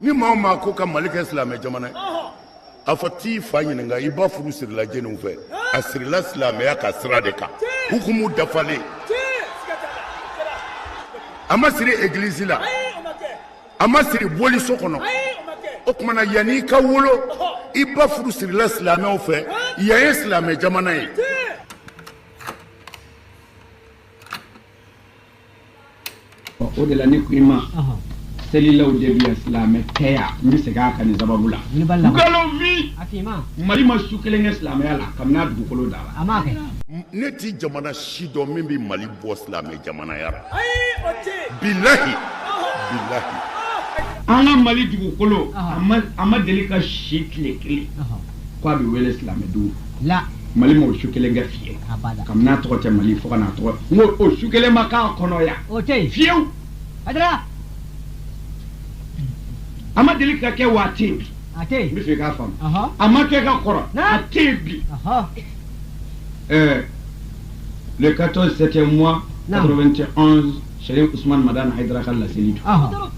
ni maa maa ko ka mali kɛ silamɛ jamana ye a fɔ t'i fa ɲininka i ba furu sirila jɛniw fɛ a sirila silamɛya ka sira de kan hukumu dafalen a ma siri egilizi la a ma siri boliso kɔnɔ o tuma na yanni i ka wolo i ba furu sirila silamɛw fɛ yan ye silamɛ jamana ye o de la ne ko i ma selilaw de bɛ yan silamɛ tɛ yan n bɛ segin a kan nin sababu la nkalonfin mali ma su kelen kɛ silamɛya la kabini a dugukolo dala ne tɛ jamana si dɔn min bɛ mali bɔ silamɛ jamanaya la bilahi bilahi an ka mali dugukolo a ma deli ka si tile kelen ko a bɛ wele silamɛdenw la mali ma o su kelen kɛ fiye kabini a tɔgɔ tɛ mali fo ka n'a tɔgɔ n ko o su kelen ma k'a kɔnɔ yan o tɛ yen fiyewu adira a ma deli ka kɛ wa a tɛ a tɛ yen n b'a fɛ k'a faamu a ma kɛ ka kɔrɔ a tɛ yen bi ɛɛ le 14 septième mois 91 serifu usman madani haidara ka laseli don ɔhɔ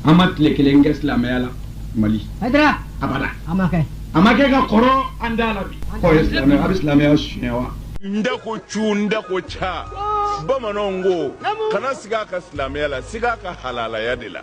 an ma tile kelen kɛ silamɛya la mali hadira abada a ma kɛ a ma kɛ ka kɔrɔ an da la bi k'o ye silamɛya a bɛ silamɛya suɲɛ wa n da ko cu n da ko ca bamananw ko kana siga a ka silamɛya la siga a ka halalaya de la